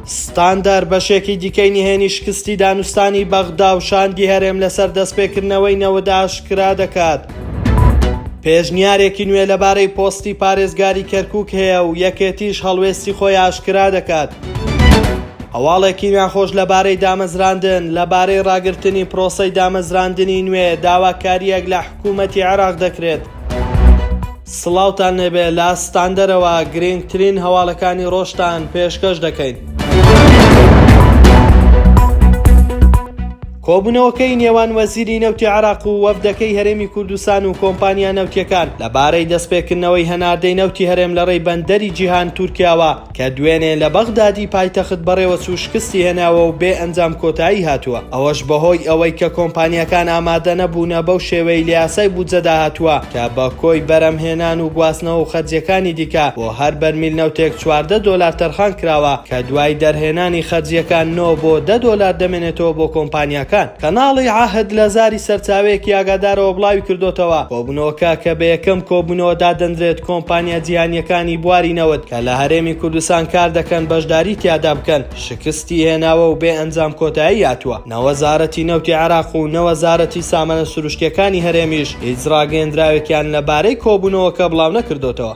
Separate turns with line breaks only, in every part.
ستاندەر بەشێکی دیکەی نهێنی شکستی دانوستانی بەغدا و شاندی هەرێم لەسەر دەستپێکردنەوەی نەوەدا ئاشکرا دەکات. پێشنیارێکی نوێ لەبارەی پۆستی پارێزگاری کەرکک هەیە و یەکێتیش هەڵوێستی خۆی ئاشکرا دەکات. هەواڵێکی ناخۆش لەبارەی دامەزراندن لەبارەی ڕاگرتنی پرۆسەی دامەزراندنی نوێ داواکاریەک لە حکوومەتی عێراق دەکرێت. سڵاوتان لێبێ لە ستاندەرەوە گرینگترین هەواڵەکانی ڕۆژتان پێشکەش دەکەین. کۆبوونەوەکەی نێوان وەزیری نەوتی عێراق و وەفدەکەی هەرێمی کوردستان و کۆمپانیا نەوتییەکان لەبارەی دەستپێکردنەوەی هەناردەی نەوتی هەرێم لەڕێی بەندەری جیهان تورکیاوە، کە دوێنێ لە بەغدادی پایتەخت بەڕێوەچوو شکستی هێناوە و بێ ئەنجام کۆتایی هاتووە، ئەوەش بەهۆی ئەوەی کە کۆمپانیاکان ئامادە نەبوونە بەو شێوەیەی لە یاسای بودجەدا هاتووە کە بە کۆی بەرەمهێنان و گواستنەوە و خەرجییەکانی دیکە بۆ هەر بەرمیل نەوتێک چواردە دۆلار تەرخان کراوە کە دوای دەرهێنانی خەرجییەکان نۆ بۆ دە دۆلار دەمێنێتەوە بۆ کۆمپانیاکان. کەناڵی عەهد لە زاری سەرچاوەیەکی ئاگادارەوە بڵاوی کردۆتەوە، کۆبوونەوەکە کە بە یەکەم کۆبوونەوە دادەنرێت کۆمپانیا جیهانییەکانی بواری نەوت، کە لە هەرێمی کوردستان کار دەکەن بەشداری تیادا بکەن، شکستی هێناوە و بێ ئەنجام کۆتایی هاتووە، نە وەزارەتی نەوتی عێراق و نە وەزارەتی سامانە سروشتییەکانی هەرێمیش هیچ راگەیەندراوێکیان لەبارەی کۆبوونەوەکە بڵاونەکردۆتەوە.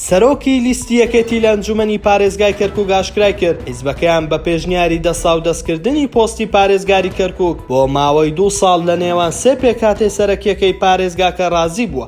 سەرۆکی لیستی یەکێتی لە ئەنجومەنی پارێزگای کەرکوک ئاشکرایکرد، حیزبەکەیان بە پێشنیاری دەستاودەستکردنی پۆستی پارێزگاری کەرکوک بۆ ماوەی دوو ساڵ لە نێوان سێ پێکهاتەی سەرەکییەکەی پارێزگاکە رازی بووە.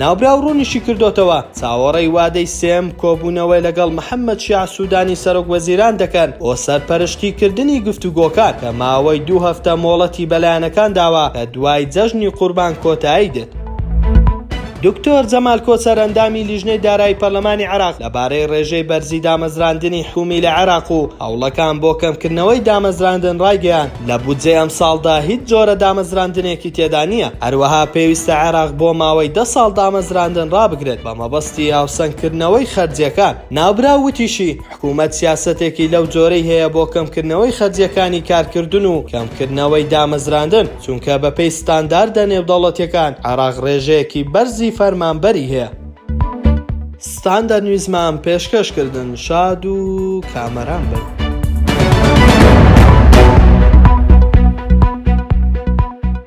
ناوبراو ڕوونیشیکردۆتەوە، چاوەڕێی وادەی سێم کۆبوونەوەی لەگەڵ محەمەد شیاع سودانی سەرۆک وەزیران دەکەن بۆ سەرپەرشتی کردنی گفتوگۆکان کە ماوەی دوو هەفتە مۆڵەتی بە لایەنەکان داوە کە دوای جەژنی قوربان کۆتایی دێت. دکتۆر جەمال کۆچەر ئەندامی لیژنەی دارایی پەرلەمانی عێراق لەبارەی ڕێژەی بەرزی دامەزراندنی حومی لە عێراق و هەوڵەکان بۆ کەمکردنەوەی دامەزراندن ڕایگەیاند، لە بودجەی ئەمساڵدا هیچ جۆرە دامەزراندنێکی تێدا نییە، هەروەها پێویستە عێراق بۆ ماوەی دە ساڵ دامەزراندن ڕابگرێت بە مەبەستی هاوسەنگکردنەوەی خەرجییەکان. ناوبراو وتیشی، حکومەت سیاسەتێکی لەو جۆرەی هەیە بۆ کەمکردنەوەی خەرجییەکانی کارکردن و کەمکردنەوەی دامەزراندن، چونکە بەپێی ستانداردە نێودەوڵەتییەکان عێراق ڕێژەیەکی بەرزی فەرمانبەری هەیە. ستاندەر نیوزمان پێشکەش کردن شاد و کامەران بن.